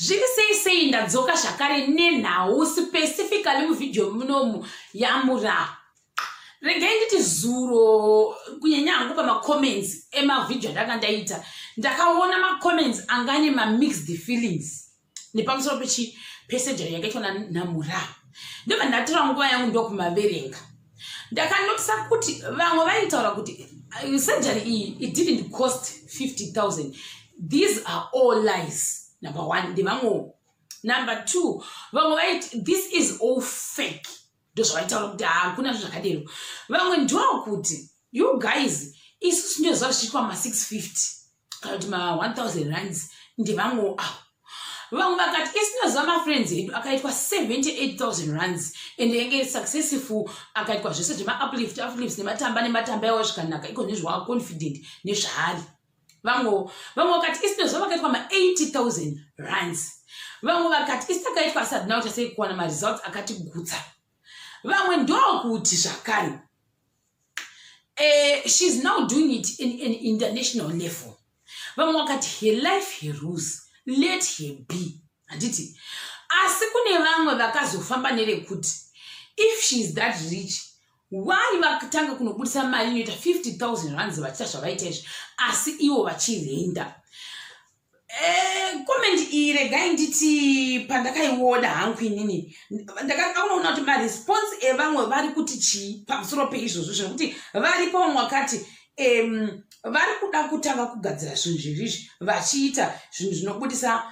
zviri sei sei ndadzoka zvakare nenhau specifically muvhidhiyo munomu yamura regai nditi zuro kunyanya hangu pamacomments emavhidhiyo andanga ndaita ndakaona macomments anga ane mamixed feelings nepamusoro pechi pesejari yakaitwa nanamura ndobva ndatora nguva yangu ndokumaverenga ndakanotisa kuti vamwe vaitaura kuti uh, surgery iyi it didn't cost 50 000 these are all lies number one ndevamwewo number two vamwe vaiti this is all fake ndozvavaitaura kuti hakuna zvo zvakadero vamwe ndokuti you guys isu sinoziva zvichiitwa ma650 kana kuti ma1000 rands ndevangu awo vamwe vakati isinoziva mafriends edu akaitwa 78000 rands and yange successful akaitwa zvese zvemauplift uplift nematamba nematamba yawo zvikanaka iko nezvawaa confident nezvaari vamwe vamwe vakati isinoziva vakaitwa ma80000 rands vamwe vakati isitakaitwa asadina uchasei kuwana maresults akatigutsa vamwe ndokuti zvakare uh, she's now doing it in an international level vamwe vakati her life her rules let her be handiti asi kune vamwe vakazofamba nerekuti if she is that rich why vakatanga kunobudisa mari inoita 50 000 rands vachita zvavaita izvi asi ivo vachirenda Eh, comment iyi regai nditi pandakaiona hangu inini ndakaunoona kuti maresponse evamwe vari kuti chii pamusoro peizvozvo zvekuti varipo vamwe vakati um, vari kuda kutanga kugadzira zvinhu zviri izvi vachiita zvinhu zvinobudisa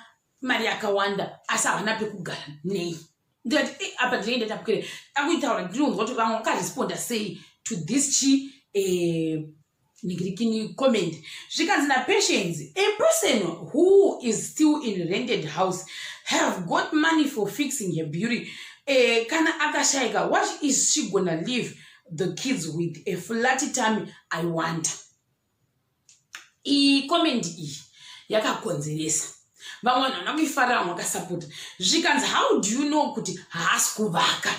mari yakawanda asi havana pekugara nei ndikati eh, apa ndinenge ndatapukire akuitaura ndinonzwa kuti vamwe vakaresponda sei to this chi eh, ningirikini comment zvikanzi napatience a person who is still in rented house have got money for fixing her beauty eh, kana akashaika what is she gonna leave the kids with a flat time i wonder iyi comment iyi yakakonzeresa vamwe vanhu vana kuifarira vamwe vakasapota zvikanzi how do you know kuti haasi kuvaka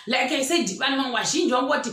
like i said vanhu vamwe vazhinji vangoti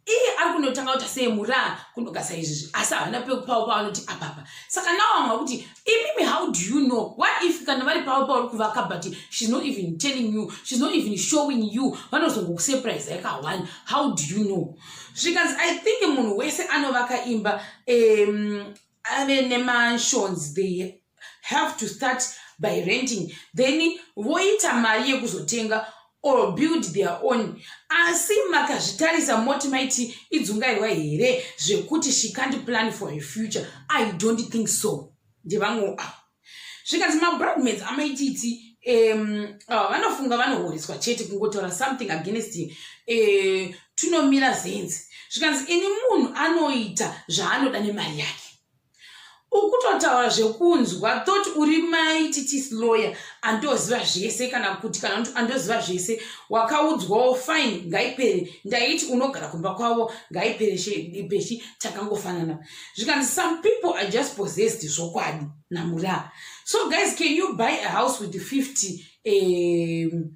iye ari kunotanga kuti aseye muraa kunogasa izvizvi asi havana pekupavo pavanoti apapa saka nawo vamwe vakuti imimi how do you know why if kana vari pavo pauri kuvaka but shes not even telling you shes not even showing you vanozongokusurprise yaka one how do you know zvikanzi i think munhu wese anovaka imba um, ave nemansions they have to start by renting then voita mari yekuzotenga or build their own asi makazvitarisa moti maiti idzungairwa here zvekuti she can't plan for her future i don't think so ndevamwewo ava ah. zvikanzi mabradmaids amaititi um, ah, vanofunga vanohoreswa chete kungotaura something against uh, eh, tunomira zenzi zvikanzi ini munhu anoita zvaanoda nemari yake ukutotaura zvekunzwa thot uri mai titis lawyer andoziva zvese kana kuti kana kuti andoziva zvese wakaudzwawo fine ngaipere ndaiti unogara kumba kwavo ngaipere peshi takangofanana zvikanzi some people are just possessed zvokwadi namuraa so guys can you buy a house with 50 um,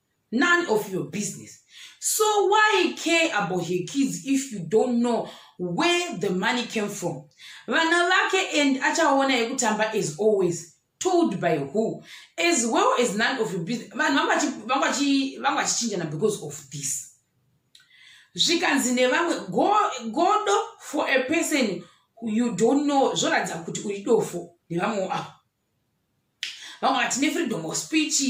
none of your business so why care about her kids if you don't know where the money came from vana vake and achaona yekutamba as always told by who as well as none of your business vanhu vanga vachichinjana because of this zvikanzi nevamwe godo for a person you don't know zvoratidza kuti uri dofo nevamwewo avo vamwe vati nefreedom of speech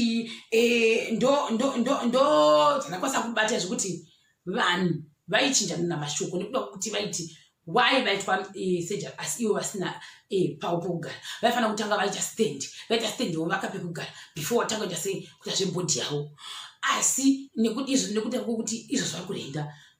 eh, ndodzanakwanisa kubata zvekuti vanhu vaichinjanana mashoko nekuda kuti vaiti why vaitwa eh, surgery asi ivo vasina eh, pavo pokugara vaifanira kutanga vaita stand vaita stand wo vakape kugara before watanga kuita sei kuita zvebhodhi yavo asi izvo nekuda kwekuti izvo zvari kurenda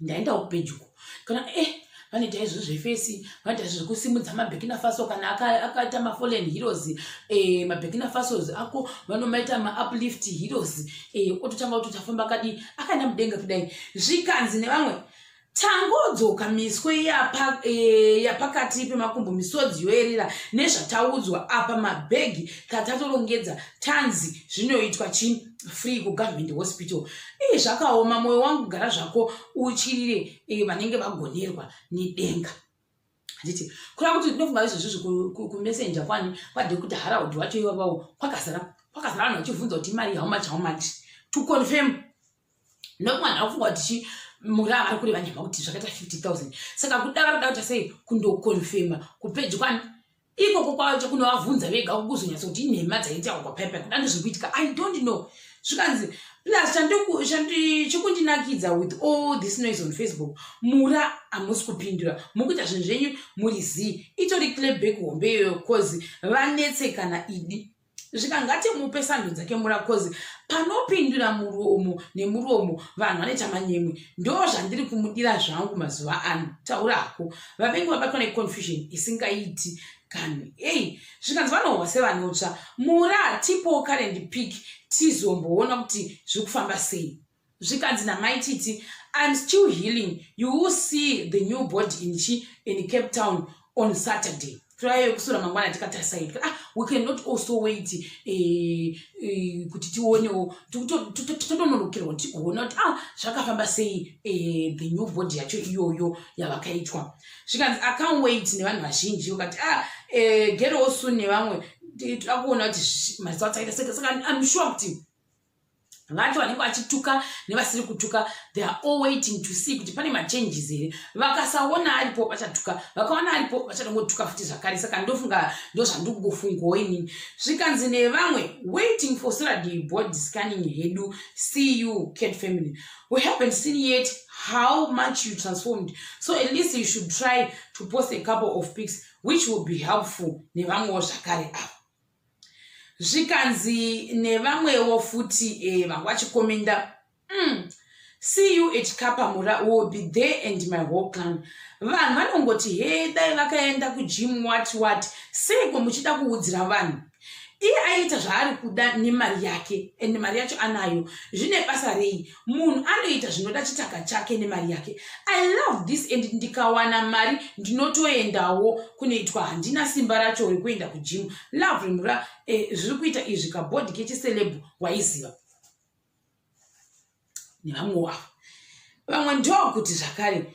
ndaendawo pedyo kana eh vanoita izvi zvefesi vanoita izvi zvekusimudza mabekina faso kana akaita mafolen heroes eh, mabekina fasos ako vanomaita mauplift heroes eh, ototanga kuti tafamba kadi akaenda mudenga kudai zvikanzi nevamwe tangodzoka miswe eh, yapakati e, pemakumbo misodzi yoerera nezvataudzwa apa mabhegi tatatorongedza tanzi zvinoitwa chii free kugovernment hospital ii zvakaoma mwoyo wangu gara zvako utyirire eh, vanenge vagonerwa nedenga handiti kureva kuti ndinofunga izvozvi zvekumessenja kwani kwadekuti haraudi wacho ivavawo kwakazara kwakazara vanhu vachibvunza kuti imari how much how much to confirm ndokuti vanhu vakufunga kuti chi muri avari kureva nhema kuti zvakaita 50 000 saka kuda vari kuda kuita sei kundokonfirma kupeji kwani ikoko kwacho kunovavhunza vega kukuzonyatsa kuti inhema dzaitawa kwapepa kuda ndizviri kuitika i don't know zvikanzi plus chikundinakidza with all this noise on facebook mura hamusi kupindura mukuita zvinhu zvenyu muri zii itori cleback hombe iyoyo bcause vanetsekana idi zvika ngatimupe sando dzake mura coz panopindura muromo nemuromo vanhu vanoita manyemwe ndo zvandiri kumudira zvangu mazuva ano taura hako vavengi vabatwa neconfusion isingaiti kanhu ei zvikanzi vanohwa sevanotsva mura tipowo current pick tizomboona kuti zviri kufamba sei zvikanzi namai titi im still healing you will see the new body in chi in cape town on saturday furayo yekusura mangwana tikatarisaitika ah we can not also wait eh, eh, kuti tionewo totononokerwa tigoona kuti ah zvakafamba sei eh, the new body yacho iyoyo yavakaitwa zvikanzi acount wait nevanhu vazhinji ukati ah gerowo soon nevamwe toda kuona kuti maziso atsaita seka saka im sure kuti vacho vanenge vachituka nevasiri kutuka they are all waiting to see kuti pane machanges here vakasaona aripo vachatuka vakaona aripo vachanongotuka futi zvakare saka ndofunga ndozvandikungofungawo inini zvikanzi nevamwe waiting for saturday board scanning hedu see you cat family we haven't seen yet how much you transformed so at least you should try to post a couple of pics which will be helpful nevamwewo zvakare ava zvikanzi nevamwewo futi eh, vanga vachikomenda mm. see you at kapamura will be there and my whole clan vanhu vanongoti he dai vakaenda kujim wat wat seiko muchida kuudzira vanhu iye aiita zvaari kuda nemari yake and mari yacho anayo zvine basa rei munhu anoita zvinoda chitaka chake nemari yake i love this and ndikawana mari ndinotoendawo kunoitwa handina simba racho rekuenda kujimu love remura eh, zviri eh, kuita izvi kabhodhi kechiselebhu waiziva nevamwe wavo vamwe ndokuti zvakare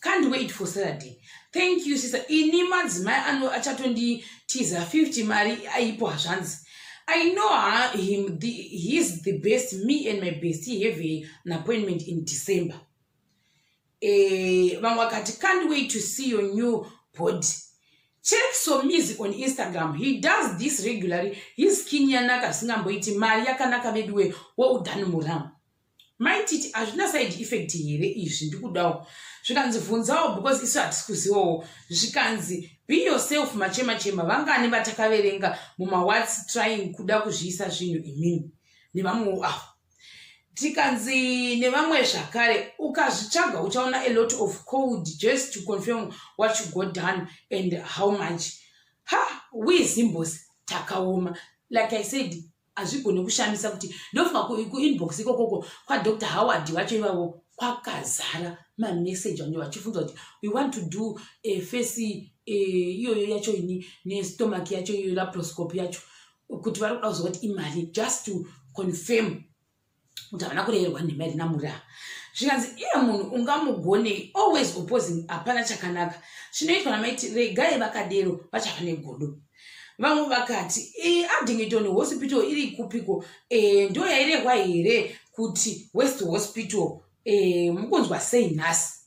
can't wait for saturday thank you sister ini madzimai ano achatonditiza 50 mari aipo hazvanzi i know her, him the, he is the best me and my best he have a, an appointment in december eh, vamwe vakati can't wait to see your new body check somizi on instagram he does this regularly his skin yanaka zvisingamboiti mari yakanaka veduwe well done muramu mai titi hazvina side effect here izvi ndikudawo zvikanzi vhunzawo because isu hatisi kuzivawo zvikanzi be yourself machema chema vangani vatakaverenga mumawats trying kuda kuzviisa zvinhu imimi nevamwewo avo tikanzi nevamwe zvakare ukazvitsvaga uchaona a lot of cold just to confirm what you got done and how much ha we zimbos takaoma like i said hazvigone kushamisa kuti ndofunga kuinbox ikokoko kwadr howard vacho ivavo kwakazara mameseji ange vachifunza kuti we want to do eh, fesi eh, iyoyo yacho ini nestomach yacho iyoyo laproscope yacho kuti vari kuda kuzova kuti imari just to confirm kuti havana kureverwa nhema iri namuraa zvikanzi iye munhu ungamugonei always opposing hapana chakanaka chinoitwa namaiti regai vakadero vachava negodo vamwe vakati e, addington hospital iri kupiko e, eh, ndo yairehwa here kuti west hospital e, mukunzwa sei nhasi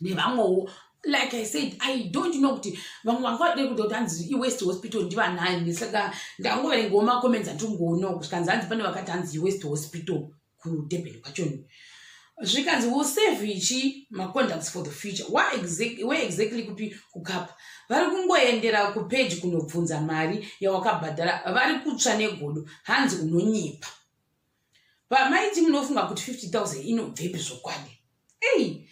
nevamwewo like i said i don't know kuti vamwe vanga vadei kuda kuti hanzi iwest hospital ndivanani saka ndangoverengawo macomments andingoona kusvikanzi hanzi pane vakati hanzi iwest hospital kudurban kwachoni zvikanzi will save ichi macontacts for the future where exactly kupi kukapa vari kungoendera kupeji kunobvunza mari yawakabhadhara vari kutsva negodo hanzi unonyepa pamaiti munofunga kuti 50000 inobvepi zvokwadi ei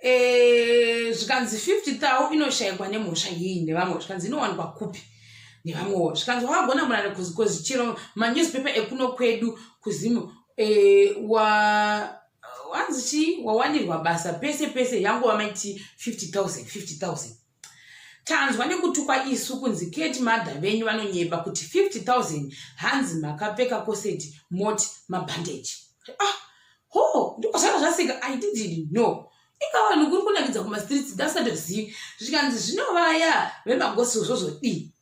eh, zvikanzi 50000 inoshayikwa nemhosva yei nevamwe zvikanzi inowanikwa kupi nevamwewo zvikanzi wakagona murare kuzikozi chero manewspaper ekuno kwedu kuzimu eh, wa wanzi chii wawanirwa basa pese pese yangova maiti 50000 50000 tanzwa nekutukwa isu kunzi keti madha venyu vanonyepa kuti 50000 hanzi makapfeka koseti moti mabhandeji ah, ho ndiko zvanga zvasika i didn't know ikawanhu kuri kunakidza kumastreets ndasatozivi zvikanzi zvinovaya vemagosi zvozvodii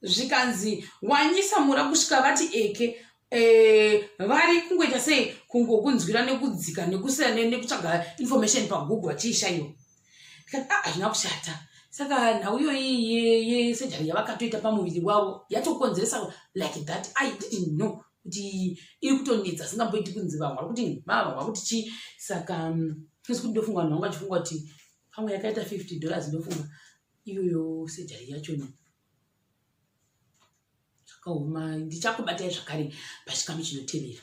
zvikanzi wanyisa mura kusvika vati eke Eh, vari kungoita sei kungokunzwira nekudzika nekusira nekutsvaga information pagoogle vachiishaiwa ndikati a ah, hazvina kushata saka nhau iyoyi sejari yavakatoita pamuviri wavo yatokonzeresa like that i didn't know kuti iri kutonetsa singamboiti kunzi vamwe vari kuti vava vava kuti chii saka mm, isi kuti ndofunga vanhu vangu vachifunga kuti pamwe yakaita fifty dollars ndofunga iyoyo sejari yacho ne zvakaoma ndichakubatai zvakare pachikamu chinotevera